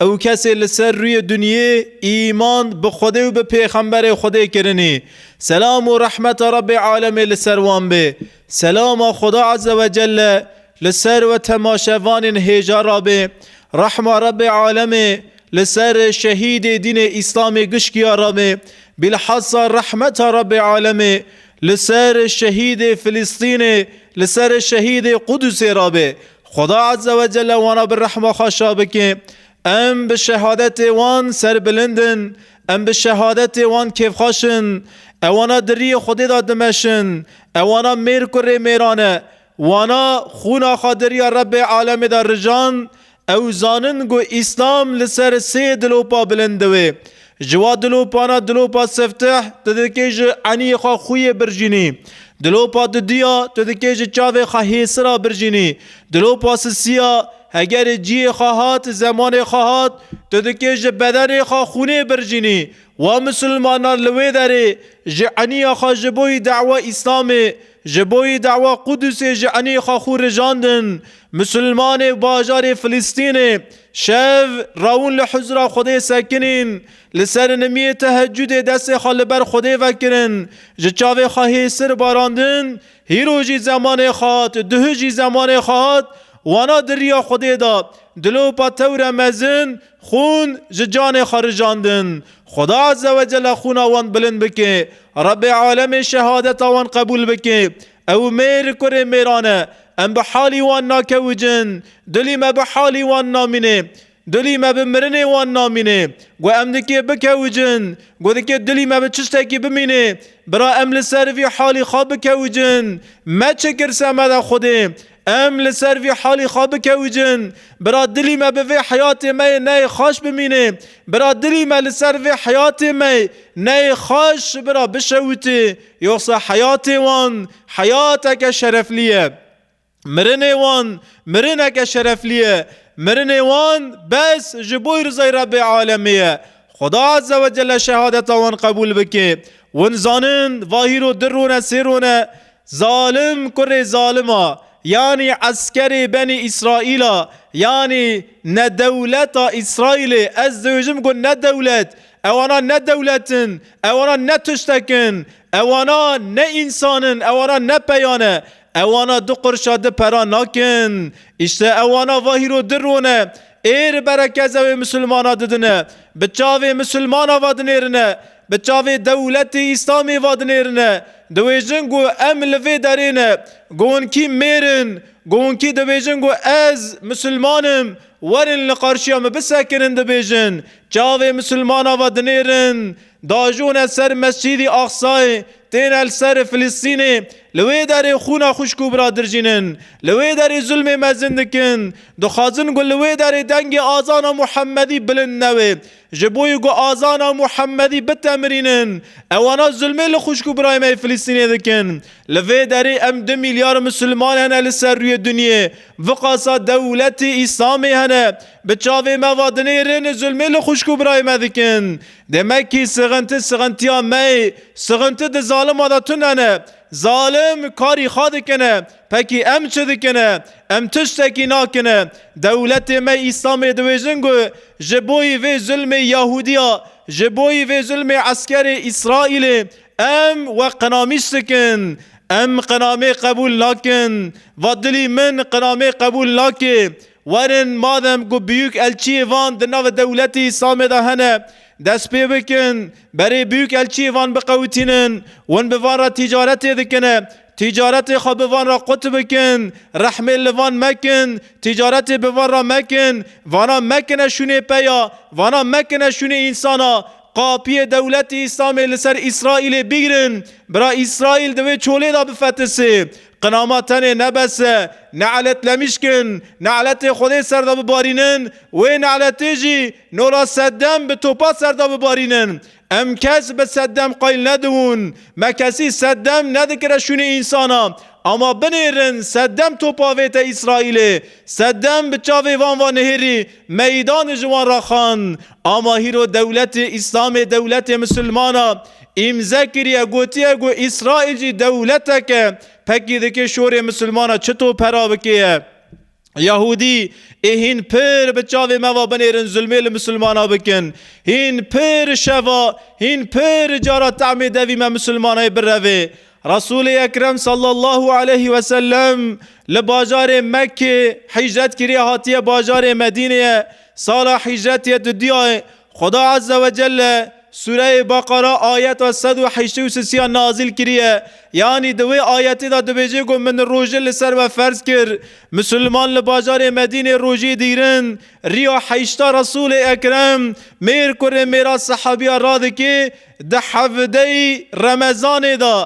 Ew kesê li ser rûyê dunyê îman bi Xwedê û bi Pêxemberê Xwedê kirinî, selam û rehmeta Rebbê alemê li ser wan bê, selama Xweda Eze we Celle li ser we temaşevanên hêja re bê, rehma Rebbê alemê li ser şehîdê dînê Îslamê gişkiya re bê, bîlhasa rehmeta Rebbê alemê li ser şehîdê Filistînê, li ser şehîdê Qudusê re bê, Xweda Azze ve Celle wana bi rehma xwe şa bike. Em bi şehadetê wan serbilind in. Em bi şehadetê wan kêfxweş in. Ewana di riyê Xwedê de dimeşin. Ewana mêr ku rê mêran e. Wana xwûna xwe di riya Rebbê alemê de rijand. Ew zanin ku Îslam li ser sê dilopa bilind diwê. Ji wa dilopana dilopa sefteh tu dikê ji eniyê xwe xuyê birjînî. Dilopa dudiya tu dikê ji çavê xwe hêsira birjînî. Dilopa sisiya hegerê ciyê xwe hat zemanê xwe hat tu dikê ji bedenê xwe xûnê birjînî. We misilmanan li wê derê ji eniya xwe ji bo yî dawa Îslamê Ji bo yê dawa Qudusê ji enê xwe xû rijandin, Musulmanê bajarê Filistînê şev rawin li huzura Xwedê sekinîn. Li serinimiyê tehecudê destê xwe li ber Xwedê vekirin, ji çavê xwe hê sir barandin, hîro jî zemanê xwe hat, duh jî zemanê xwe hat, wana di riya Xwedê de, dilopa tewre mezin, Xûn ji canê xwe rijandin. Xuda Azze ve Celle xûna wan bilind bike. Rebê Alemê şehadeta wan qebûl bike. Ew mêr û kurê mêran e. Em bi halî wan nakewicin. Dulî me bi halî wan namîne. Dulî me bi mirinê wan namîne. Ku em dikê bikewicin. Ku dikê dulî me bi çiştekî bimîne. Bira em li ser vî halî xwe bikewicin. Me çi kir semede Xwedê. Em li ser vî halî xwe bikewicin. Bira dilî me bi vê heyatê me yê neyê xweş bimînê. Bira dilî me li ser vê heyatê me yê neyê xweş ji bira bişewitê. Yoxsa heyatê wan heyateke şereflî ye. Mirinê wan mirineke şereflî ye. Mirinê wan bes ji bo rizay Rebbê alemê ye. Xweda Ezze Wecelle şehadeta wan qebûl bike. Win zanin vahîro du rone sê rone Zalim kurê zalim a, yanî eskerê benê Îsraîl a, yanî ne dewleta Îsraîlê, ez dibêjim ku ne dewlet, ewana ne dewlet in, ewana ne tiştek in, ewana ne însan in, ewana ne peya ne, ewana du qirşa di pera nakin. Îşte ewana va hîro di rone, ê ri berekeza wê misilmana didine, bi çavê misilmana va dinêrine, Bi çavê dewletê Îslamê va dinêrine, dibêjin ku em li vê derê ne, gonkî mêr in, gonkî dibêjin ku ez Misilman im, werin li qarşiya min bisekinin dibêjin, çavê Misilmana va dinêrin, diajone ser Mescîdî Aqsayê, têne li ser Filistînê, li wê derê xwûna xwişk û biradir jînin, li wê derê zulmê mezin dikin, dixwazin ku li wê derê dengê azana Muhemedî bilind nebe. Ji bo yi ku azana Muhemedî bitemirînin, ewana zulmê li xwişk û birayê me yê Filistînê dikin. Li vê derê em du mîlyar Musilman hene li ser rûyê dinyê. Viqasa dewletê Îslamê hene. Bi çavê me va dinê rênê zulmê li xwişk û birayê me dikin. Demekî sixinti sixintiya me ye. Sixinti di zalima de tund hene. Zalim karî xwe dikine. Pekî em çi dikin? Em tiştekî nakin. Dewletê me Îslamê diwêjin ku ji boî vê zulmê Yahudiya, ji boî vê zulmê eskerê Îsraîlê em we qinamîş dikin. Em qinamê qebûl nakin. Va dilî min qinamê qebûl nake. Werin madem ku biyûk elçiyê van di navê dewletê Îslamê de hene dest pê bikin. Berê biyûk elçiyê van biqewitînin. Hûn bi van re tîcaretê dikin. Tîcaretê xwe bi van re qut bikin, rehmê li van mekin, tîcaretê bi van re mekin, vana mekine şûnê peya, vana mekine şûnê însana, qapiyê dewletê Îslamê li ser Îsraîlê bigrin, bira Îsraîl di wê çolê de bifetisê. Qinama tenê ne bes e, nelet lemişkin, neletê Xwedê ser de bibarînin, wê neletê jî Nola Seddem bi topa ser de bibarînin. Em kes bi seddem qayl nedibûn. Me kesî seddem nedikire şûnê însana. Ama binêrin seddem topa vête Îsraîlê. Seddem bi çavê van va nihêrî meydanê ji wan ra xand. Ama hîro dewletê Îslamê dewletê misilman a îmze kiriye gotiye ku Îsraîl jî dewletek e. Pekî dikê şorê misilman a çi top hera bikê ye. Yahûdî ê hîn pir bi çavê me ve binêrin zulmê li misilmana bikin. Hîn pir şeva, hîn pir cara temê devî me misilmanayê birevê. Resûlê Ekrem sallallahu aleyhi ve sellem li bajarê Mekkê hîcret kiriye hatiye bajarê Medîneyê. Sala hîcretê di duyayê Xweda Azze ve Celle Sûreyê Beqera ayeta sed û heştê û sisiya nazîl kiriye, yanî di wê ayetê de dibêje ku min rojê li ser we ferz kir. Misilman li bajarê Medînê rojê dîrin, riya heşta Resûlê Ekrem, mêr kurê mêra sehabiya radikê di hevdeyî Remezanê de,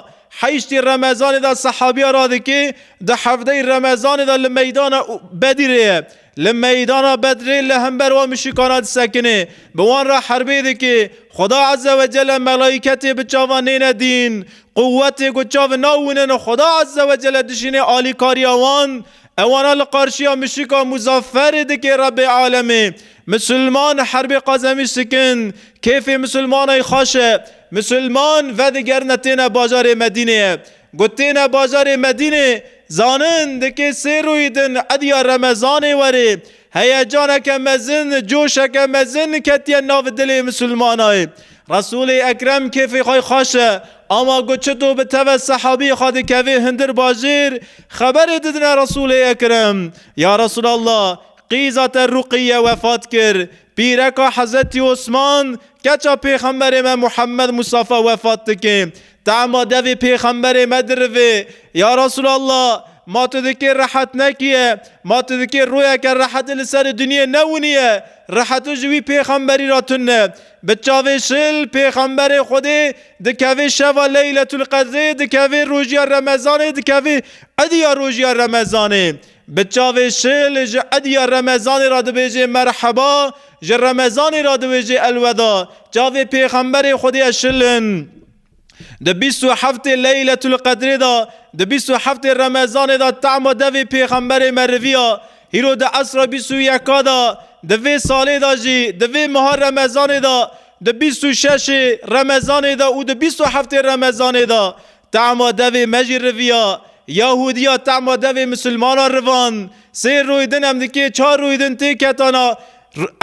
heştê Remezanê de sehabiya radikê di hevdeyî Remezanê de li meydana Bedîrê ye. Li meydana Bedrê li hember wan muşikana disekinê, bi wan re herbê dikê. Xuda Ezze we Celle melaîketê bi çavan nêne dîn. Quwetê ku çav nawînin Xuda Ezze we Celle dijînê alîkariya wan. Ewana li qarşiya muşika Muzafferê dikê Rebbê Alemê. Misilman herbê qazemî sikin. Kêfê misilmanayî xweş e. Misilman vedigerine têne bajarê Medîneyê. Got têne bajarê Medînê zanin dikê sê rûyî din ediya remezanê werê. Heyecaneke mezin, coşeke mezin ketiye nav dilê misilmanayê. Resûlê Ekrem kêfê xwe xweş e ama ku çito bi teve sehabiyê xwe dikevê hundir bajêr xeberê didine Resûlê Ekrem, Ya Resûlallah qîza te Ruqîye wefat kir. Pîreka Hezretî Osman, keça Pêxemberê me Muhemmed Mustafa wefat dike. Tahma devê Pêxemberê me dirive, Ya Resûlallah! Ma tu dikê rehet nekîye, ma tu dikê royeke reheti li serê dinyê newinîye, reheti ji wî Pêxemberî re tune. Bi çavê şil Pêxemberê Xwedê dikeve şeva Leyletulqedrê, dikeve rojîya Remezanê, dikeve îdîya rojîya Remezanê. Bi çavê şil ji ediya remezanê re dibêjê merheba, ji remezanê re dibêjê elweda. Çavê pêxemberê Xwedê ya şil in. Di bîst û heftê Leyletul Qedrê de, di bîst û heftê remezanê de tema devê pêxemberê me riviya. Hîro di esra bîst û yeka de, di vê salê de jî, di vê meha remezanê de, di bîst û şeşê remezanê de û di bîst û heftê remezanê de, Tahma devê me jî riviya. Yahudiya tahma devê misilmanan rivand. Sê rûy din em dikê çar rûy din tê ketana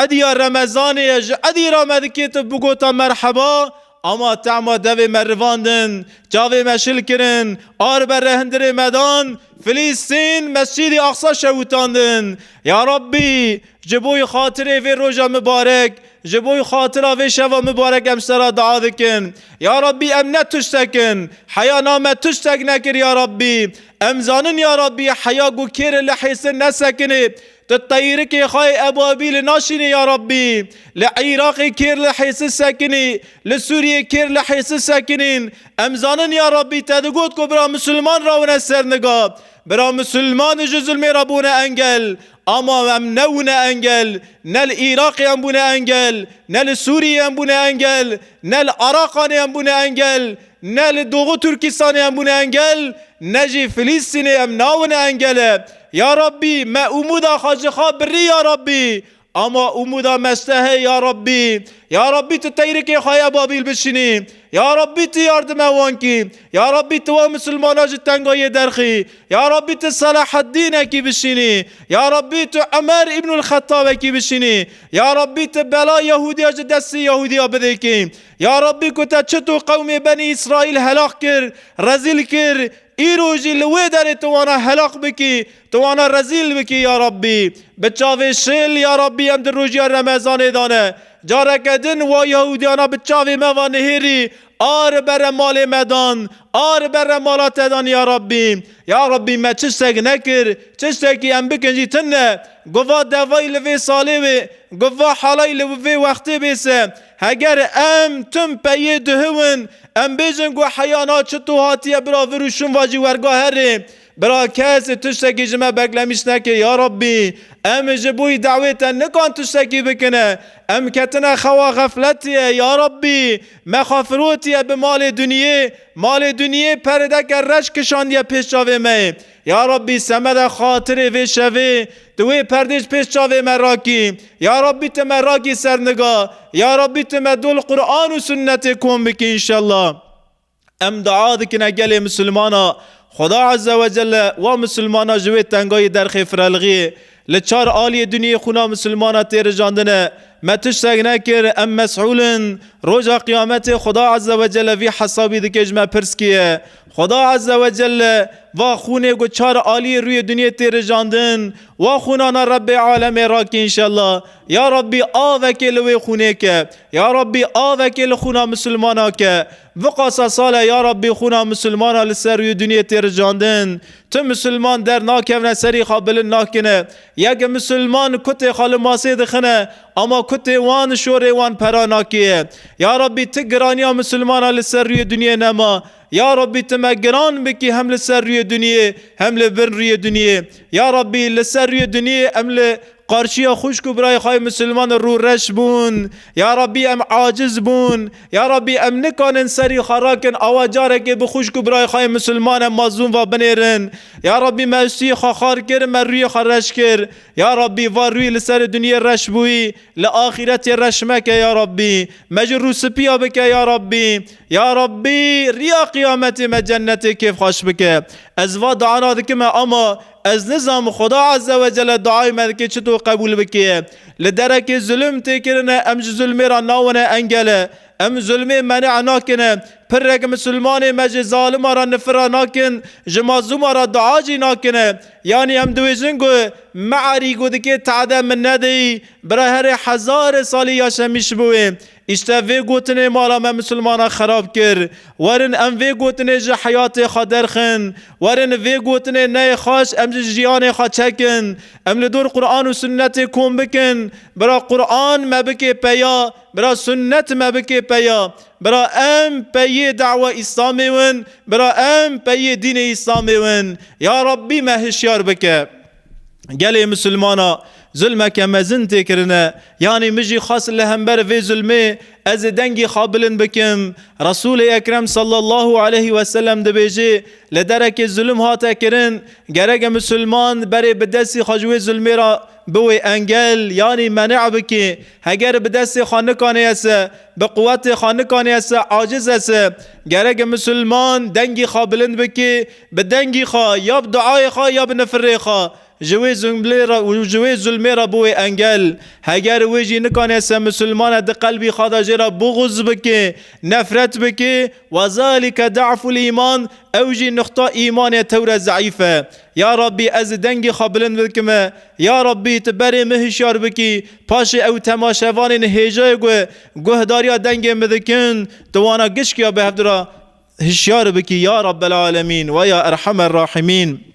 ediya remezanê ye ji edî ra me dikê tu bigota merheba ama tahma devê me rivandin çavê me şil kirin a ribe re hindirê me dan Filîstîn Mescîdî Aqsa şewitandin ya Rabbî Ji bo xatirê vê roja mibarek, ji bo xatira vê şeva mibarek em sera dua dikin. Ya Rabbî em ne tiştek in. Heya na me tiştek nekir ya Rabbî. Em zanin ya Rabbî heya ku kêrê li hêstin nesekinê. Tu teyirikê xwe yê ebabîlê naşînî ya Rabbî. Li Îraqê kêr li hêsin sekinî, li Sûriyê kêr li hêsin sekinîn. Em zanin ya Rabbî te digot ku bira misilman re wine ser niga. Bira misilman ji zilmê re bûne engel. Ama em nebûne engel, ne li Îraqê em bûne engel, ne li Sûriyê em bûne engel, ne li Araqanê em bûne engel, ne li Doxu Tirkîstanê em bûne engel, ne jî Filîstînê em nabine engel e. Ya Rabbî me Umûda Xacixah birî ya Rabbî. Ama Umûda Mestehê ya Rabbî. Ya Rabbî tu teyrikê xwe ya Babîl bişînî. Ya Rabbî tu yardime wan kî. Ya Rabbî tu wan misilmanan ji tengayiyê derxî. Ya Rabbî tu Selaheddînekî bişînî, ya Rabbî tu Umer Îbnul Xettabekî bişînî, ya Rabbî tu bela Yehûdiya ji destê Yehûdiya bidêkî. Ya Rabbî ku te çi tu qewmê Benî Îsraîl helaq kir, rezîl kir, îro jî li wê derê tu wana helaq bikî, tu wana rezîl bikî ya Rabbî. Bi çavê şêl ya Rabbî em di rojiya Remezanê de ne. Careke din wa Yehûdiyana bi çavê me ve nihêrî, A ri bere malê me dan, a ri bere mala te dan ya Rabbî. Ya Rabbî me çi ştek nekir, çi ştekî em bikin jî tim ne. Gova devayî li vê salê wê, gova halayî li vê wextê bê se. Heger em tim peyê dihiwin, em bêjin ku heya na çi tu hatiye bira vir û şûn vajî werga herê. Bira kes tu ştekî ji me beklemîş neke ya Rabbî. Em ji boî dawê te nikan tu ştekî bikine. Em ketine xewa xefletiyê ya Rabbî. Me xwe firotiye bi malê duniyê, malê duniyê perdeke reş kişandiye pêş çavê me yê. Ya Rabbî semede xatirê vê şevê tu wê perdê ji pêş çavê me rakî. Ya Rabbî tu me rakî ser niga. Ya Rabbî tu me dol Quran û sunnetê kom bikî înşellah. Em dua dikine gelê misilmana, Xweda Ezze Wecelle wa misilmana ji wê tengayî derxê firelxiyê. Li çar aliyê dinyê xwina misilmana tê rijandine. Me tişt seg nekir, em mes'ûl in. Roja qiyametê Xweda Ezze Wecelle vî hesabî dike ji me pirs kiye. Xweda Ezze Wecelle va xwinê ku çar aliyê rûyê dinyê tê rijandin, wa xwinana Rebbê Alemê rake înşella. Ya Rebbî avekê li wê xwinê ke. Ya Rebbî avekê li xwina misilmana ke. Viqasa sal e ya Rabbî xûna misilmana li ser rûyê dinyê tê ricandin. Tu misilman der nakevne serî xwe bilind nakine. Yek misilman kutê xwe li masê dixine ama kutê wan şorê wan pera nakeye. Ya Rabbî ti giraniya misilmana li ser rûyê dinyê nema. Ya Rabbî tu me giran bikî hem li ser rûyê dinyê hem li bin rûyê dinyê. Ya Rabbî li ser rûyê dinyê em li Qarşiya xwişk û birayê xwe misilman rû reş bûn. Ya Rabbî em aciz bûn. Ya Rabbî em nikanin serî xwe rakin awa carekê bi xwişk û birayê xwe misilman em mazlûm ve binêrin. Ya Rabbî me stûyê xwe xar kir, me rûyê xwe reş kir. Ya Rabbî va rûyê li serê dinyê reş bûyî, li axîretê reş meke ya Rabbî. Me ji rû spiya bike ya Rabbî. Ya Rabbî riya qiyametê me cennetê kêfxweş bike. Ez va diana dikim e ama Ez nizam Xuda Azze ve Celle duayê me dike çito qebûl bike. Li derekê zulm tê kirine em ji zulmê re nawine engele. Em zulmê mene'e nakin. Pirrek misilmanê me ji zalima re nifira nakin, ji mazluma re dua jî nakin. Yanî em dibêjin ku Me erî ku dikê te'de min nedî, bira herê hezarê salî ya şemî şibû wê. Îşte vê gotinê mala me misilmanan xerab kir. Werin em vê gotinê ji heyatê xwe derxin. Werin vê gotinê neyê xweş em ji jiyanê xwe çekin. Em li dor Quran û Sunnetê kom bikin. Bira Quran me bikê peya, bira Sunnet me bikê peya. Bira em peyê dawa Îslamê win, bira em peyê dînê Îslamê win. Ya Rabbî me hişyar bike. Gelê misilmana zulmeke mezin tê kirine. Yanî min jî xwest li hember vê zulmê ez ê dengê xwe bilind bikim. Resûlê Ekrem sallallahu aleyh we selem dibêje, Li derekê zulm hate kirin, gereke misilman berê bi destê xwe ji wê zulmê re biwê engel yanî mene bike. Heger bi destê xwe nikanêye se, bi quwetê xwe nikanêye se, acize se. Gereke misilman dengê xwe bilind bike, Bi dengî xwe, ya bi duayê xwe ya bi nifirê xwe ji wê zumlê re û ji wê zulmê re bû wê engel. Heger wê jî nikane se misilman e di qelbî xwe de jê re buxuz bike, nefret bike, we zalike da'ful îman, ew jî nuqta îmanê tewre zeîf e. Ya Rabbî ez ê dengê xwe bilind bikime. Ya Rabbî tu berê min hişyar bikî. Paşê ew temaşevanên hêja ê ku guhdarîya dengê min dikin, di wana gişkî ya bi hevdira, Hişyar bikî ya Rabbel Alemîn we ya Erhamer Rahimîn.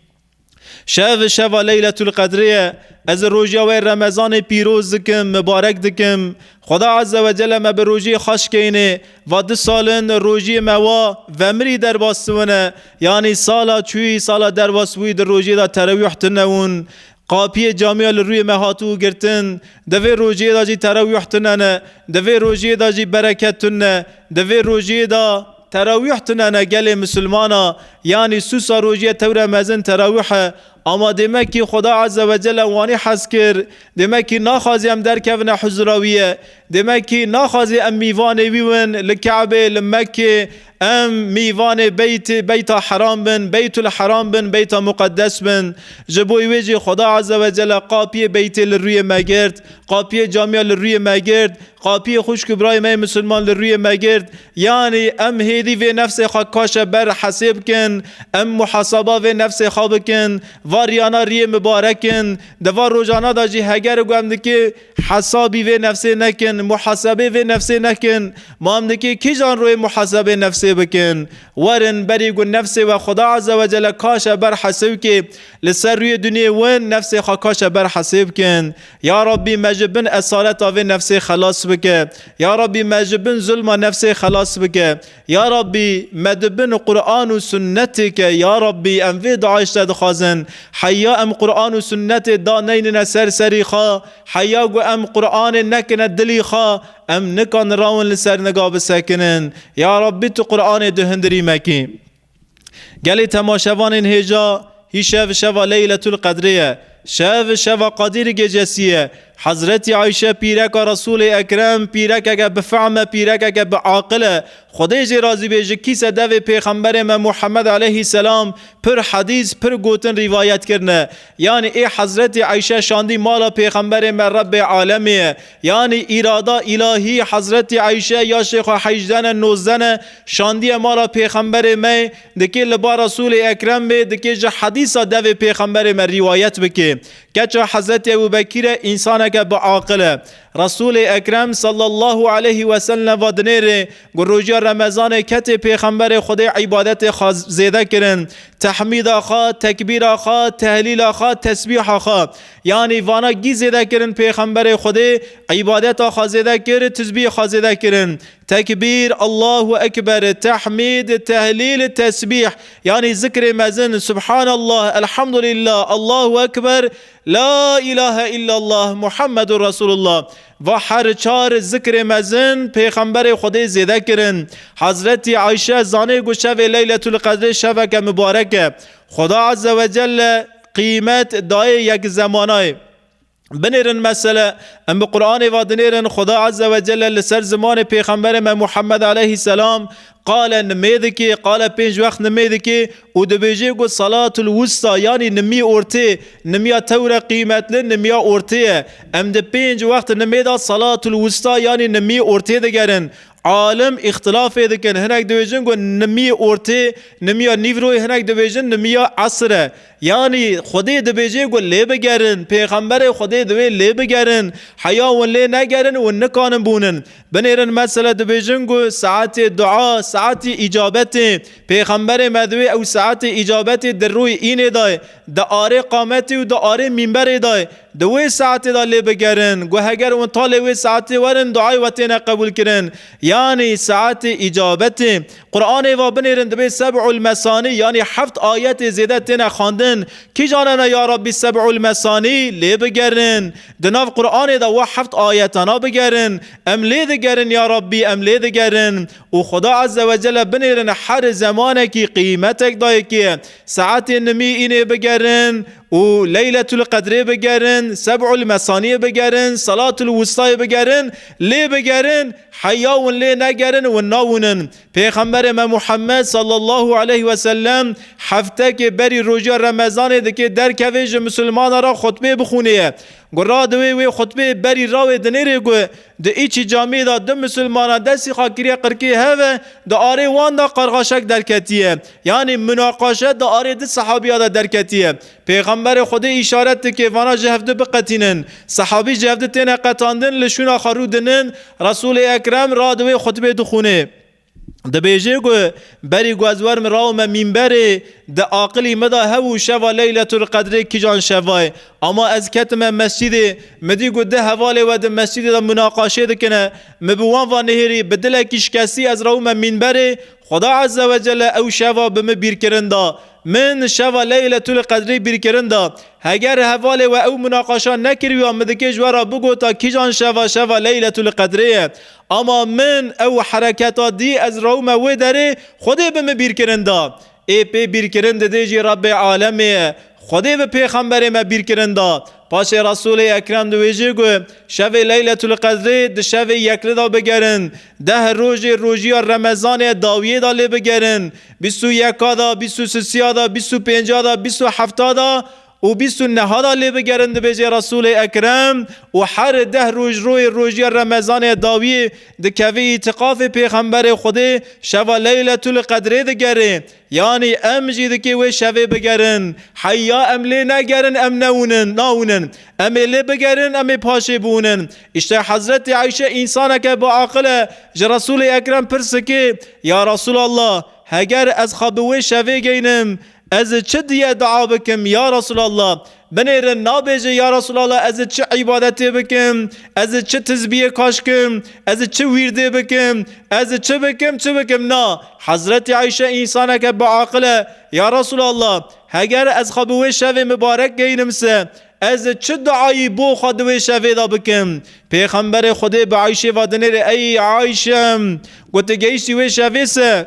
Şev şeva Leyletul Qedrê ye. Ez roja wê Remezanê pîroz dikim, mibarek dikim. Xweda Azze ve Celle me bi rojiyê xweş keynê. Va du sal in rojiyê me wa vemirî derbas tune. Yanî sala çûyî, sala derbas bûyî di rojiyê de terawîh tune wûn. Qapiyê camiya li rûyê me hatibû girtin, di vê rojiyê de jî terawîh tune ne, di vê rojiyê de jî bereket tune ne, di vê rojiyê de. Terawîh tune ne gelê misilman a, yanî sûsa rojiye tewre mezin terawîh e. Ama dêmekî Xuda Eze ve Cele wanî hez kir, dêmekî naxwazê em derkevine huzura wî ye, dêmekî naxwazê em mîvanê wî win li Keebê, li Mekkê, Em mêvanê beytê, beyta heram bin, beytul heram bin, beyta muqeddes bin. Ji bo wê jî Xweda Azze ve Celle qapiyê beytê li rûyê me girt, qapiyê camiya li rûyê me girt, qapiyê xwişk û birayê me yê misilman li rûyê me girt. Yanî em hêdî vê nefsê xwe kaşe ber hesê bikin, em muhasaba vê nefsê xwe bikin. Va riyana riyê mibarek in. Di van rojana de jî heger ku em dikê, Hesabî vê nefsê nekin, muhasebê vê nefsê nekin. Mam dike kîjan royê muhasebê nefsê bikin? Werin berî ku nefsê we Xweda Ezzewecelle kaşe ber hesê wkê. Li ser rûyê dunyê win nefsê xwe kaşe ber hesê bikin. Ya Rabbî me ji bin esareta vê nefsê xelas bike. Ya Rabbî me ji bin zulma nefsê xelas bike. Ya Rabbî me di bin Quran û Sunnetê ke Ya Rabbî em vê DAIŞ te dixwazin heya em Quran û Sunnetê da neynine ser serî xwe heya ku em Quranê nekine dilî xwe em nika nirawin li ser nika bisekinin Ya Rabbî tu Quranê di hundirî me kî. Gelê temaşevanên hêja hî şev şeva Leyletul Qedrê ye. Şev şeva Qadîr Gecesî ye. Hezretî Ayşe pîreka Resûlê Ekrem pîrekeke bi fehm e, pîrekeke bi aqil e. Xwedê jê razî be ji kîse devê pêxemberê me Muhammed eleyhî selam pir hedîs, pir gotin rîvayet kirine. Yanî ê Hezretî Ayşe şandî mala pêxemberê me Rebbê alemê ye. Yanî îrada îlahî Hezretî Eyşe ya Şêxo Heyjdene Nozdene şandiye mala Pêxemberê me, dikê li ba Resûlê Ekrem bê, dikê ji hedîsa devê Pêxemberê me rîwayet bikê. Keça Hezretî Ebû Bekîre însaneke bi aqil e. Resûlê Ekrem sallallahu aleyhi we selne va dinêrê ku roja Remezanê ketê Pêxemberê Xwedê îbadetê xwe zêde kirin, tehmîda xwe, tekbîra xwe, tehlîla xwe, tesbîha xwe, Yanî vana gî zêde kirin pêxemberê Xwedê îbadeta xwe zêde kir, tizbîh xwe zêde kirin. Tekbîr, Allahu Ekber, Tehmîd, Tehlîl, Tesbîh, yanî zikrê mezin, Subhanallah, Elhamdulillah, Allahu Ekber, La îlahe îllallah, Muhammedûr Resûlullah. Va her çar zikrê mezin pêxemberê Xwedê zêde kirin. Hezretî Ayşe zanê ku şevê Leyletulqedrê şeveke mibarek e. Xweda Ezzewecelle qîmet dayê yek zemanayê. Binêrin mesele, em bi Quranê ve dinêrin Xuda Azze ve Celle li ser zimanê Pêxemberê me Muhammed aleyhîsselam qale nimê dike, qale pênc wext nimê dike û dibêje ku Salatul Wusta yanî nimî ortê, nimiya tewre qîmetli nimiya ortê ye. Em di pênc wext nimê de Salatul Wusta yanî nimî ortê digerin. Alim îxtilafê dikin. Hinek dibêjin ku nimî ortê, nimiya nîvroyê hinek dibêjin nimiya esir e. Yanî Xwedê dibêjê ku lê bigerin, pêxemberê Xwedê divê lê bigerin. Heya wan lê negerin wan nikanin bûnin. Binêrin mesele dibêjin ku saetê dua, saetê îcabetê. Pêxemberê me divê ew saetê îcabetê di rûyê înê de, di arê qametê û di arê mîmberê de. Di wê saetê de lê bigerin ku heger wan ta lê wê saetê werin duayê we têne qebûlkirin, yanî saetê îcabetê. Quranê va binêrin dibê seb'ul mesanî yanî heft ayetê zêde têne xwendin. Kîjan hene ya Rabbî seb'ul mesanî lê bigerin. Di nav Quranê de wa heft ayetana bigerin, Em lê digerin ya Rabbî em lê digerin û Xuda Ezze ve Celle binêrin her zemanekî qîmetek dayê kê saetê nimî înê bigerin û Leyletul Qedrê bigerin, Seb'ul Mesaniyê bigerin, Salatul Wustayê bigerin, lê bigerin heya win lê negerin win nawinin. Pêxemberê me Muhammed sallallahu aleyh ve sellem heftekê berî rojê Remezanê dikê derkevê ji misilmanan re xutbê bixwinê ye. Gura di wê wê xutbê berî rawê dinêrê ku Di Îçî Camiyê de du misilmanan destî xakirîya qirkê hev e, di arê wan de qarxaşek derketiye. Yanî munaqaşe di arê du sehabîya de derketiye. Pêxemberê Xwedê îşaret dike vana ji hevdu biqetînin. Sehabî ji hevdu têne qetandin li şûna xwe rû dinin, Resûlê Ekrem radiwê xutbê dixwînê. Dibêje ku berî ku ez werim rawime mîmberê di aqilî min de hebû şeva Leyletul Qedrê kîjan şeva ye. Ama ez ketime mescîdê, min dît ku du hevalê we di mescîdê de munaqaşe dikine. Min bi wan ve nihêrî, bi dilekî şikestî ez rawime mîmberê, Xweda Ezze ve Celle ew şeva bi min bîrkirin da. Min şeva Leyletul Qedrê bîrkirin da. Heger hevalê we ew munaqaşa nekiriya min dikê ji we re bigota kîjan şeva şeva Leyletul Qedrê ye. Ama min ew hereketa dî ez rewme wê derê Xwedê bi min bîrkirin da. Ê pê bîrkirin didê jî Rebbê alemê ye. Xwedê bi pêxemberê me bîrkirin da. Paşê Resûlê Ekrem di wê jê got, Şevê Leyletulqedrê di şevê yekli da bigerin, deh rojê rojiya remezanê dawiyê da lê bigerin, bîst û yeka da, bîst û sisiya da, bîst û pênca da, bîst û hefta da, û bîst û neha da lê bigerin dibêjê Resûlê Ekrem û her deh roj royê rojya Remezanê dawiyê dikevê îtîkafê Pêxemberê Xwedê şeva Leyletûl Qedrê digerê yanî em jî dikê wê şevê bigerin heyya em lê negerin em newnin nawnin em ê lê bigerin em ê paşê biwnin îşte Hezretê Eyşe însaneke bi aqil e ji Resûlê Ekrem pirs dikê ya Resûlallah heger ez xwe bi wê şevê geynim Ez çi diye dua bikim ya Resûlallah? Binêrin nabêje ya Resûlallah ez çi îbadetê bikim? Ez çi tizbiyê kaşkim? Ez çi wîrdê bikim? Ez çi bikim çi bikim? Na, Hezretî Ayşe însaneke biaqil e, ya Resûlallah heger ez xwe bi wê şevê mibarek geynim se ez çi duayî bo xwe di wê şevê de bikim? Pêxemberê Xwedê bi Ayşê ve dinêrê Ey Ayşe! Ku tu gehîştî wê şevê se,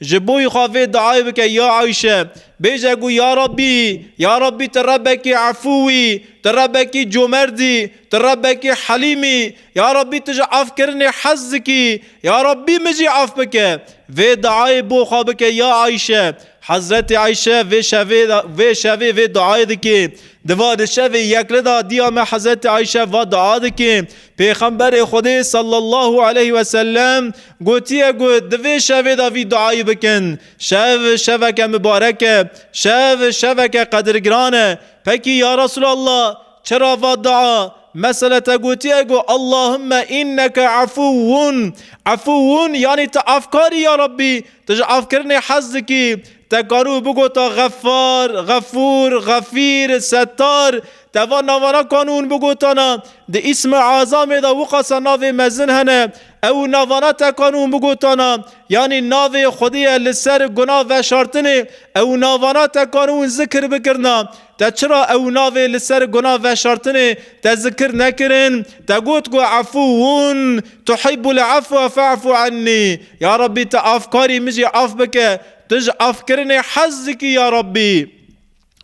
Ji bo xwe vê diayê bike ya Ayşe. Bêje ku ya Rabbî, ya Rabbî tu Rebbekî efû î, tu Rebbekî comerd î, tu Rebbekî helîm î, ya Rabbî tu ji efkirinê hez dikî, ya Rabbî min jî ef bike. Vê diayê bo xwe bike ya Ayşe. Hezretê Ayşe vê şevê vê şevê vê diayê dike. Di va di şevê yekli de diya me Hezretê Ayşe va dia dike, Pêxemberê Xwedê sallallahu aleyh ve sellem gotiye ku di vê şevê de vî duayî bikin, Şev şeveke mibarek e, şev şeveke qedirgiran e. Pekî ya Resûlallah çira va dua mesela te gotiye ku Allahümme inneke efûun, efûun yanî tu afkar î ya Rabbî, tu ji afkirinê hez dikî. Te karibû bigota Xeffar, Xefûr, Xefîr, Settar. Teva navara kanûn bi gotana di îsmi Azamê de wiqasa navê mezin hene, ew û navara te kanûn bi gotana yanî navê xwedî ye li ser guna veşartinê, ew û navara te kanûn zikir bikirina, te çira ew û navê li ser guna veşartinê te zikir nekirin, te got ku efûun tuhibbul efwa fe'fû ennî, ya Rabbî tu afkarî min jî af bike, tu ji afkirinê hez dikî ya Rabbî.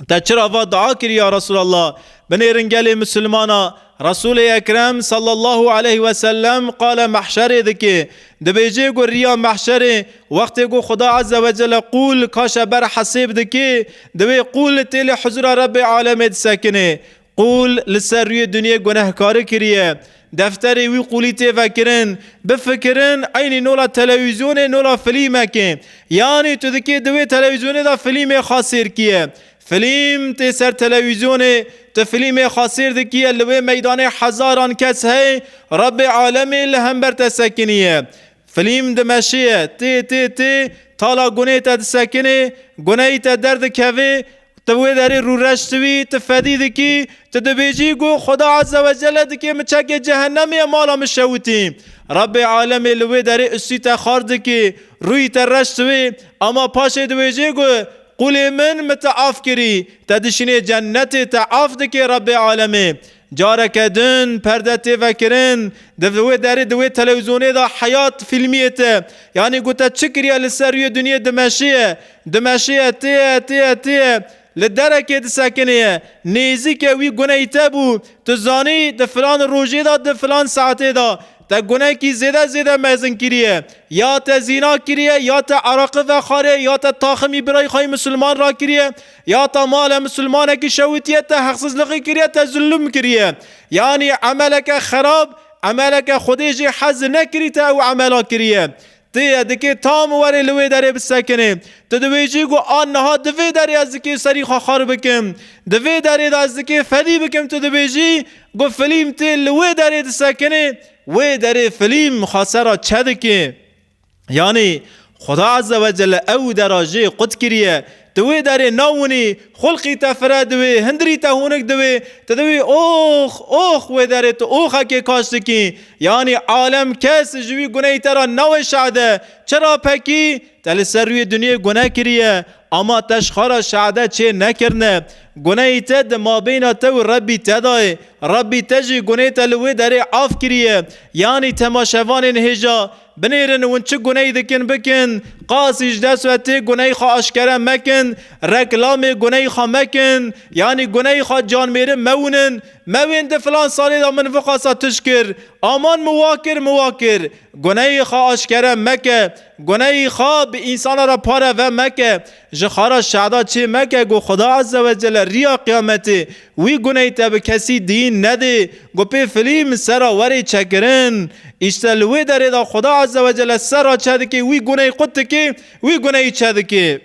Te çira va dua kirî ya Resûlallah, binêrin gelê Mislimana, Resûlê Ekrem sallallahu aleyh ve sellem qala mehşerê dike. Dibêje ku riya mehşerê wextê ku Xuda ezze ve celle qûl kaşe ber hesêb dike, di wê qûl têlê huzûra Rebbê alemê disekine. Qûl li ser rûyê dinyê gunehkari kiriye. Defterê wî qûlî tê vekirin. Bifikirin eynî nola telewîzyonê nola filîmekê. Yanî tu dikê di wê telewîzyonê de filîmê xwe sêr kiye. Filîm tê ser telewîzyonê, tu filîmê xwe sêr dikiye li wê meydanê hezaran kes hey, Rebê alemê li hember te sekiniye. Filîm dimeşiye, tê tê tê, tala gunê te disekinê, guneyî te derdikevê, ti wê derê rûreş dibî, ti fedî dikî, ti dibêjî ku Xweda Azze ve Celle dikê min çekê cehennemê ye mala min şewitî. Rebbê Alemê li wê derê ustî te xar dikê, rûyî te reş dibê, ema paşê dibêjê ku Qûlê min min te af kirî, te dişînê cennetê te af dikê Rebbê Alemê. Careke din perde tê vekirin, di vê derê di wê telewîzyonê de Heyat fîlmiyê te yanî got te çi kiriye li ser rûyê dinyê dimeşiye, dimeşiye, têye, têye, têye, li derekê disekinêye, nêzîke wî guney te bû, tu zanî di filan rojê de, di filan saetê de, Te gunekî zêde zêde mezin kiriye. Ya te zîna kiriye, ya te eraqi vexariye, ya te taximî birayî xwe yê misilman rakiriye, ya te male misilmanekî şewitiye, te heqsizlixî kiriye, te zilum kiriye. Yanî emeleke xerab, emeleke Xwedê jê hezi nekirî te ew emela kiriye. Ti ye dikê tam werê li wê derê bisekinê. Tu dibêjî ku a niha di vê derê ez dikê serî xwe xar bikim. Di vê derê de ez dikê fedî bikim tu dibêjî ku filîm tê li wê derê disekinê, wê derê filîm xwe ser a çe dikê. Yanî Xuda Ezze Wecelle ew dera jê qut kiriye Di wê derê na winî, xulqî te fire di wê, hindirî te hûnik di wê, tu di wî ox, ox wê derê tu oxekê kaş dikî. Yanî alem kes ji wî gunehî te ra nawe şade. Çira pekî? Te li ser rûyê dinyê guneh kiriye, ama te ji xwe ra şade çê nekirine. Gunehî te di mabeyna te û Rebbî te de ye. Rebbî te jî gunehê te li wê derê af kiriye. Yanî temaşevanên hêja Binêrin hûn çi guneyî dikin bikin, qasî ji dest ve tê guneyê xwe aşkere mekin, reklamê guneyê xwe mekin, yanî guneyê xwe canmêrin mewinin, mewên di filan salê de min viqasa tişt kir, aman min wa kir min wa kir. Guneyê xwe aşkere meke, guneyê xwe bi însana re pare ve meke. Ji xara şehda çê meke ku Xuda Azze ve Celle riya qiyametê wî guneyî te bi kesî diyîn nedê ku pê filîm sera werê çekirin. Îşte li wê derê de Xuda Azze ve Celle sera çe dikê wî guneyî qut dikê wî guneyî çe dikê.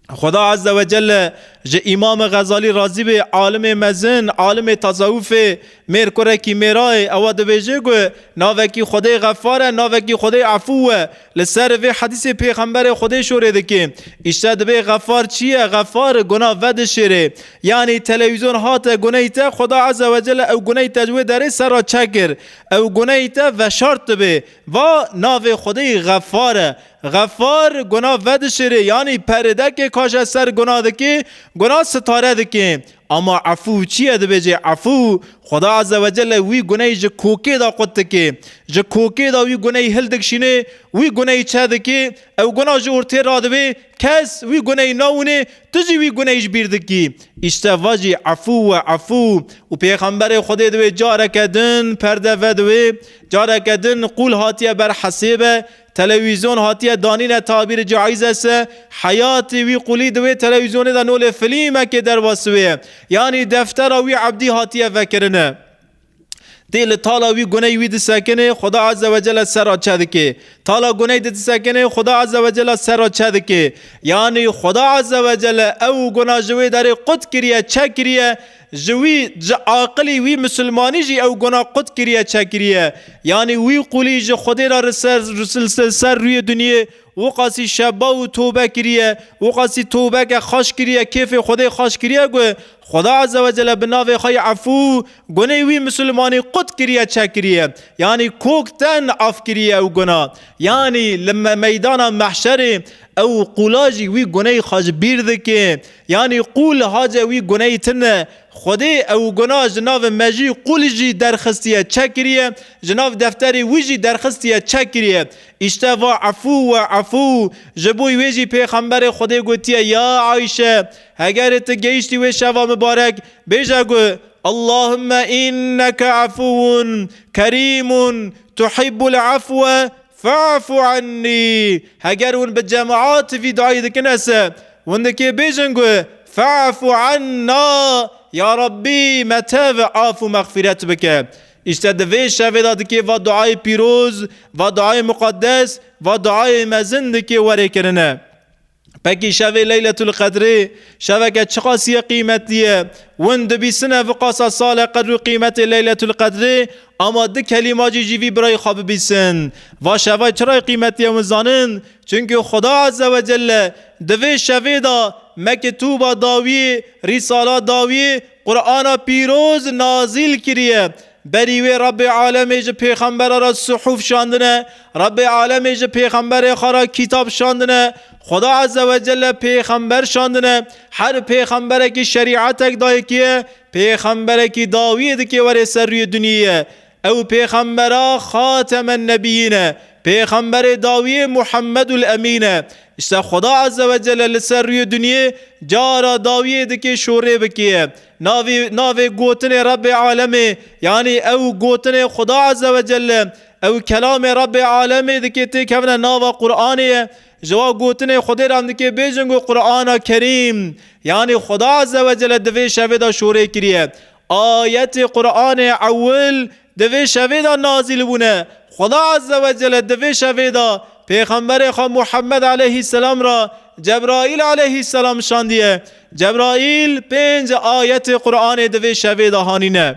Xuda Azze ve Celle ji Îmamê Xezalî razî be alimê mezin, alimê tasewufê Mêr kurekî mêrayê ewa dibêje ku navekî Xwedê Xefar e, navekî Xwedê Efû e. Li ser vê hedîsê pêxemberê Xwedê şorê dike. Îşte dibê Xefar çi ye? Xefar guna vedişêrê. Yanî telewîzyon hate guneyî te, Xweda Eze Wecele ew guneyî te ji wê derê ser re çekir. Ew guneyî te veşart dibe. Va navê Xwedê Xefar e. Xefar guna vedişêrê yanî perêdekê kaje ser guna dike, guna sitare dike. Ama efû çi ye dibêjê efû, Xweda Azze ve Celle wî guney ji kokê de qut dike. Ji kokê de wî guney hildigşîne, wî guney çedike, ew guna ji ortê radibe, kes wî guney nawine, tu jî wî guney ji bîr dikî. Îşte va jî efû we efû. Û Pêxemberê Xwedê di wê careke din perde ve di wê, careke din qûl hatiye ber hesêbe, Telewîzyon hatiye danîne Tabîr Caîzes e, heyatê wî qulî di wê telewîzyonê de nolê filîmekê derbasî wê ye. Yanî deftera wî Ebdî hatiye vekirin e. Dê li tala wî guney wî disekinê, Xuda Azze ve Celle ser re çe dikê. Tala guney di disekinê, Xuda Azze ve Celle ser re çe dikê. Yanî Xuda Azze ve Celle ew guna ji wê derê qut kiriye, çe kiriye, Ji wî, ji aqilî wî misilmanî jî ew gona qut kiriye çekiriye. Yanî wî qûlî ji Xwedê re li ser li ser rûyê dinyê wiqasî şeba û towbe kiriye, wiqasî towbeke xweş kiriye, kêfê Xwedê xweş kiriye ku Xweda Ezzewecelle bi navê xwe yê Efû gonê wî misilmanî qut kiriye çekiriye. Yanî kok tên af kiriye ew gona. Yanî li meydana mehşerê ew qûla jî wî goneyê xwe ji bîr dike. Yanî qû li hace wî guneyî tin e. Xwedê ew guna ji nav mejî qûl jî derxistiye çek kiriye, ji nav defterê wî jî derxistiye çek kiriye. Îşte va efû we efû. Ji bo wê jî Pêxemberê Xwedê gotiye ya Ayşe, hegerê ti gehîştî wê şeva mibarek, bêje gu, Allahümme inneke efûun kerîmun tuhibbul efwe Fe'fu ennî, heger hûn bi cemaat vî duayê dikin ez se hûn dikê bêjin ku fe'fu enna, ya Rabbî me tev af û mexfîret bike. Îşte di vê şevê de dikê va duayê pîroz, va duayê muqeddes, va duayê mezin dikê werê kirine. Pekî şevê Leyletul Qedrê şeveke çiqas ye qîmetî ye. Win dibîsine vi qasa sale qedr û qîmetê Leyletul Qedrê ama di kelîmacî jî vî birayî xwe bibîsin. Va şevay çirayî qîmetî ye win zanin çunke Xuda Eze we Celle di vê şevê da Mekitûba dawiyê, Rîsala dawiyê, Qurana pîroz nazîl kiriye. Berî wê Rebê alemê ji pêxembera re sihûf şandine, Rebê alemê ji pêxemberê xwe re kîtab şandine, Xweda Eze we Celle pêxember şandine. Her pêxemberekî şerîetek dayekiye, pêxemberekî dawiyê dikê were ser rûyê duniyê. Ew pêxembera Xatemennebiyin e, pêxemberê dawiyê Muhammedul Emîn e. Îşte Xweda Eze we Celle li ser rûyê duniyê cara dawiyê dikê şorê bikiye. Navê navê gotinê Rebbê Alemê yanî ew gotinê Xuda Azze ve Celle ew kelamê Rebbê Alemê dikê têkevine nava Quranê ye. Ji wa gotinê Xwedê re em dikê bêjin ku Qurana Kerîm yanî Xuda Azze ve Celle di vê şevê de şorê kiriye. Ayetê Quranê ewil Di vê şevê de nazîl bûne. Xweda Azze ve Celle di vê şevê de Pêxemberê xwe Muhemmed eleyhî selam re Cebraîl eleyhî selam şandiye. Cebraîl pênc ayetê Quranê di vê şevê de hanîne.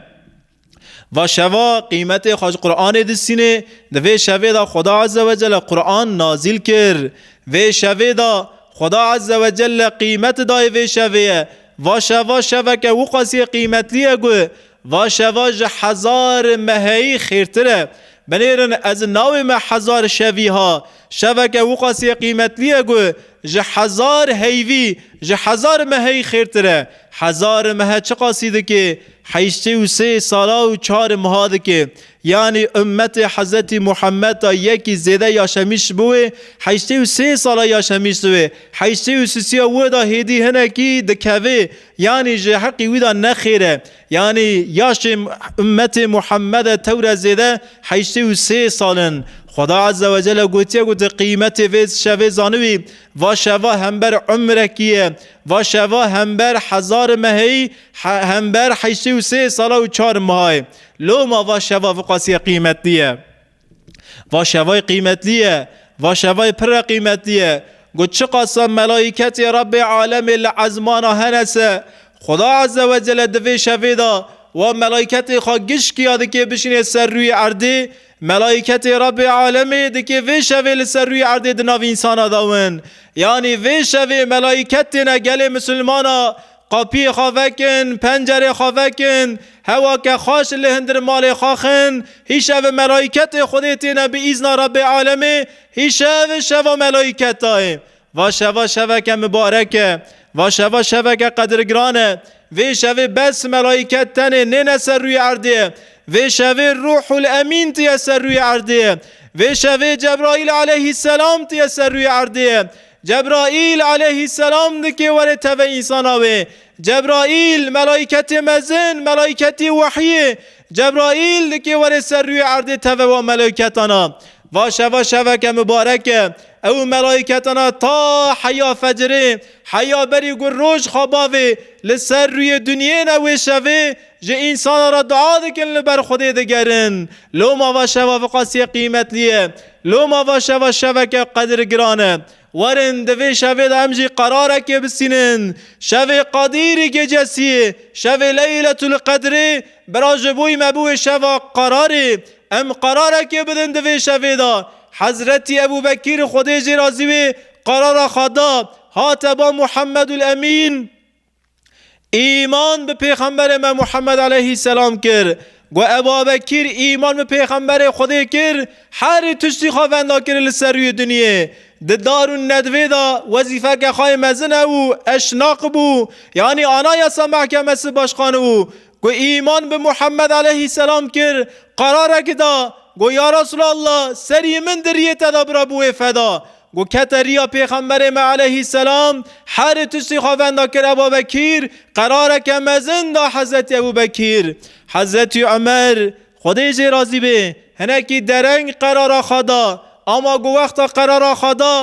Va şeva qîmetê xwe ji Quranê distînê, di vê şevê de Xweda Azze ve Celle Quran nazîl kir. Vê şevê de Xweda Azze ve Celle qîmet daye vê şevê ye. Va şeva şeveke wiqasî qîmetlî ye ku Va şeva ji hezar meheyî xêrtir e. Binêrin ez navê me Hezar Şevî ha. Şeveke wiqasî qîmetlî ye ku ji hezar heyvî, ji hezar meheyî xêrtir e. Hezar mehe çiqasî dikê? Heştê û sê sala û çar meha dikê. Yanî ummetê Hezretî Muhammed a yekî zêde yaşemiş bi wê heştê û sê sala yaşemiş di wê heştê û sisiya wê de hêdî hinekî dikevê Yanî ji heqî wî de nexêr e. Yanî yaşê ummetê Muhammede tewre zêde heştê û sê sal in. Xweda Ezze ve Celle gotiye ku tu qîmetê vê şevê zanibî. Va şeva hember umrekî ye. Va şeva hember hezar meheyî, hember heştê û sê sala û çar maha ye. Loma va şeva viqasîye qîmetlî ye. Va şevayê qîmetlî ye, va şevayê pirre qîmetlî ye. Got çiqasa melaîketê Rebbê alemê li ezmana hene se, Xweda Azze ve Celle di vê şevê de wa melaîketê xwe gişkiya dikê bişînê ser rûyê erdê, melaîketê Rebbê alemê dikê vê şevê li ser rûyê erdê di nav însanan de win. Yanî vê şevê melaîket têne gelê misilmana Qapiyê xwe vekin, pencerê xwe vekin, hewa ke xweş li hindir malê xwe xin, hîşev melaîketê Xwedê têne bi îzna Rebbê Alemê, hîşev şeva melaîketa ye. Va şeva şeveke mibarek e. Va şeva şeveke qedirgiran e. Vê şevê bes melaîket tenê nêne ser rûyê erdê. Vê şevê Rûhul Emîn tiye ser rûyê erdê. Vê şevê Cebraîl aleyhîsselam tiye ser rûyê erdê. Cebraîl aleyhîsselam dike were tevê însana wê. Cebraîl, melaîketê mezin, melaîketî wehyî. Cebraîl dike were ser rûyê erdê tevê wan melaîketan a. Va şeva şeveke mibarek e. Ew û melaîketan a ta heya fecirê, heya berî gur roj xwe bavê li ser rûyê dinyê ne wê şevê, Ji însanan re dua dikin li ber Xwedê digerin. Loma va şeva viqasiyê qîmetlî ye. Loma va şeva şeveke qedir giran e. Werin di vê şevê de em jî qerarekê bisînin. Şevê Qadîrî Gecesiyê, şevê Leyletul Qedrê bira ji bo me bû wê şeva qerarê. Em qerarekê bidin di vê şevê de. Hezretî Ebû Bekîr Xwedê jê razî wê qerara xwe da. Hate ba Muhammedul Emîn. Îman bi Pêxemberê me Muhammed aleyhî selam kir. Got ev bavekîr îman bi Pêxemberê Xwedê kir, herî tiştî xwe venda kir li ser rûyê dinyê. Di dar û nedvê de wezîfeke xwe yê mezin hebû, eşnaq bû, yanî ana yasa mehkemesi başxan û ku îman bi Muhammed aleyhî selam kir, qerarek da, got ya Resûlallah serî min di rîyê te de bira bi wê feda. Ku kete riya Pêxemberê me eleyhîsselam, herî tiştî xwe venda kir Eba Bekîr, qerareke mezin da Hezretî Ebû Bekîr. Hezretî Omer, Xwedê jê razî be, hinekî dereng qerara xwe da, ama ku wexta qerara xwe da,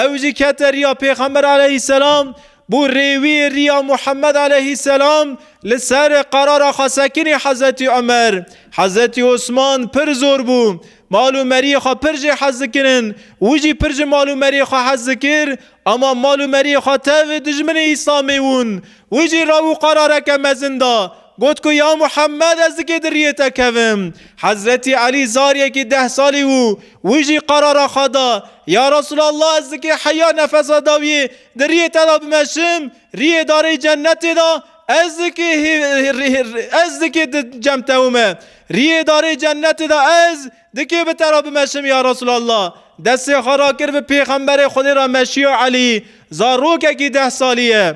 ew jî kete riya Pêxember eleyhîsselam, Bi rê wî riya Muhammed aleyhîsselam li ser qerara xwe sekinî Hezretî Omer, Hezretî Osman pir zor bû. Mal û meriyê xwe pir jê hez dikirin. Wî jî pir ji mal û meriyê xwe hez dikir. Ama mal û meriyê xwe tev dijminê Îslamê wûn. Wî jî rew û qerareke mezin da. Got ku ya Muhammed ez dikê di riyê te kevim. Hezretî Elî zariyekî deh salî wû. Wî jî qerara xwe da, Ya Resûlallah ez dikê heya nefesa dawiyê Di riyê te de bimeşim, riyê darê cennetê de, ez dikê ez dikê di cem tewime. Riyê darê cennetê de ez dikê bi te re bimeşim ya Resûlallah. Destê xwe rakir bi pêxemberê Xwedê re meşiya Elî, zarokekî deh salî ye.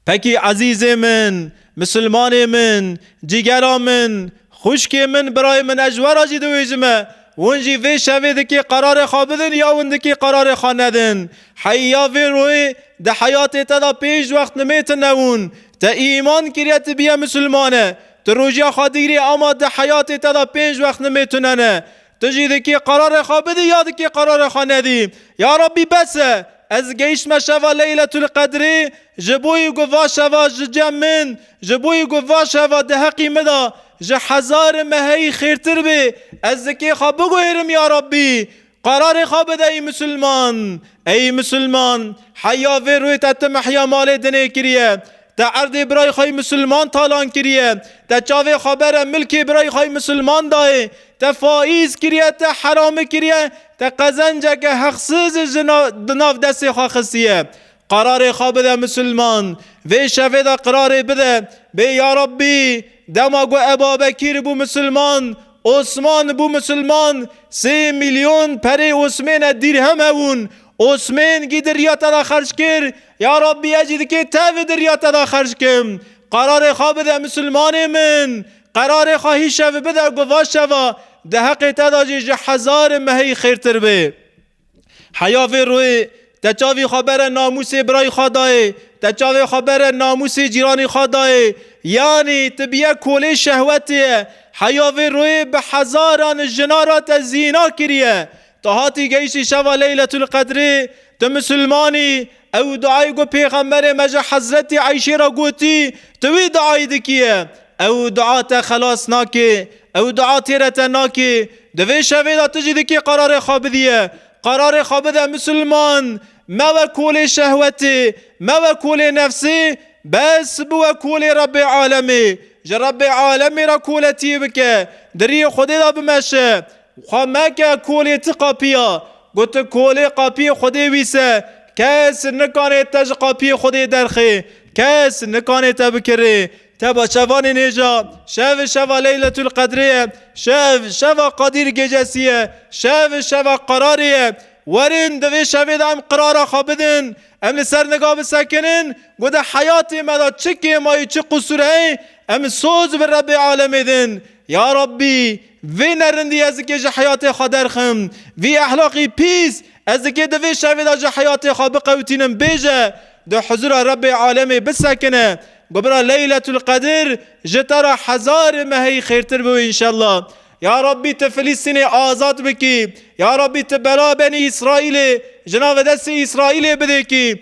Pekî ezîzê min, misilmanê min, cîgera min, xwişkê min, birayê min ez ji we re jî diwêjime. Hûn jî vê şevê dikê qerarê xwe bidin ya hûn dikê qerarê xwe nedin. Heyî ya vê royê di heyatê te de pênc wext nimê tu newûn. Te îman kiriye tu bîye misilmane. Tu rojiya xwe digirî ama di heyatê te de pênc wext nimê tunene. Tu jî dikî qerarê xwe bidî ya dikî qerarê xwe nedî. Ya Rabbî bes e, ez gehîştme şeva Leyletul Qedrê, ji bo yî ku va şeva ji cem min, ji bo yî ku va şeva di heqî min de ji hezar meheyî xêrtir bê, ez dikê xwe biguhêrim ya Rabbî qerarê xwe bide ey Musulman. Ey Musulman! Heya vê rûyê te tu mehya malê dinê kiriye. Te erdê birayê xwe yê misilman talan kiriye, te çavê xwe bere milkê birayê xwe yê misilman dayê, te faîz kiriye, te herami kiriye, te qezenceke heqsizê ji di nav destê xwe xistiye. Qerarê xwe bide misilman. Vê şevê de qerarê bide, bê ya Rabbî dema ku Ebabekîr bû misilman, Osman bû misilman, sê mîlyon perê Osmêne, dîrhem hebûn, Osmên gîdirîya te de xerc kir, Ya Rabbî ez jî dikê te vê dirya te de xerc kim. Qerarê xwe bide misilmanê min. Qerarê xwe hî şev bide ku va şeva di heqê te de jî ji hezar mehê xêrtir be. Heya vê royê te çavê xwe bere namûsê birayê xwe dayê, te çavê xwe bere namûsê cîranê xwe dayê. Yanî tu bûye kolê şehwetê. Heya vê royê bi hezaran jina re te zîna kiriye. Tu hatî gehîştî şeva Leyletül Qedrê, tu Musulman î, ew duayê ku Pêxemberê me ji Hezretî Eyşê re gotî, tu wî duayê dikî ye. Ew dua te xelas nake, ew dua têre te nake. Di vê şevê de tu jî dikî qerarê xwe bidîye. Qerarê xwe bide Musulman, mewe kolê şehwetê, mewe kolê nefsê, bes biwe kolê Rebbê Alemê. Ji Rebbê Alemê re koletiyê bike, di riyê Xwedê de bimeşe. Xwe meke kolê ti qapiya. Gotin kolê qapiyê Xwedê wîs e. Kes nikanê te ji qapiyê Xwedê derxê. Kes nikanê te bikirê. Teba şevanê nêja. Şev şeva Leyletulqedrê ye. Şev şeva Qadîr Gecesî ye. Şev şeva qerarê ye. Werin di vê şevê de em qirara xwe bidin. Em li ser niga bisekinin ku di heyatê me de çi kêma yê çi qusur heye em soz bi Rebbê Alemê din. Ya Rebbî! Vê nerindî ez dikê ji heyatê xwe derxim. Vî ehlaqî pîs ez dikê di vê şevê de ji heyatê xwe biqewitînim bêje di huzûra Rebbê alemê bisekine. Gobira Leyletul Qedir ji te re hezarê meheyî xêrtir bibe înşella. Ya Rabbî tu Filîstînê azad bikî. Ya Rabbî tu bela benî Îsraîlê ji navê destê Îsraîlê bidêkî.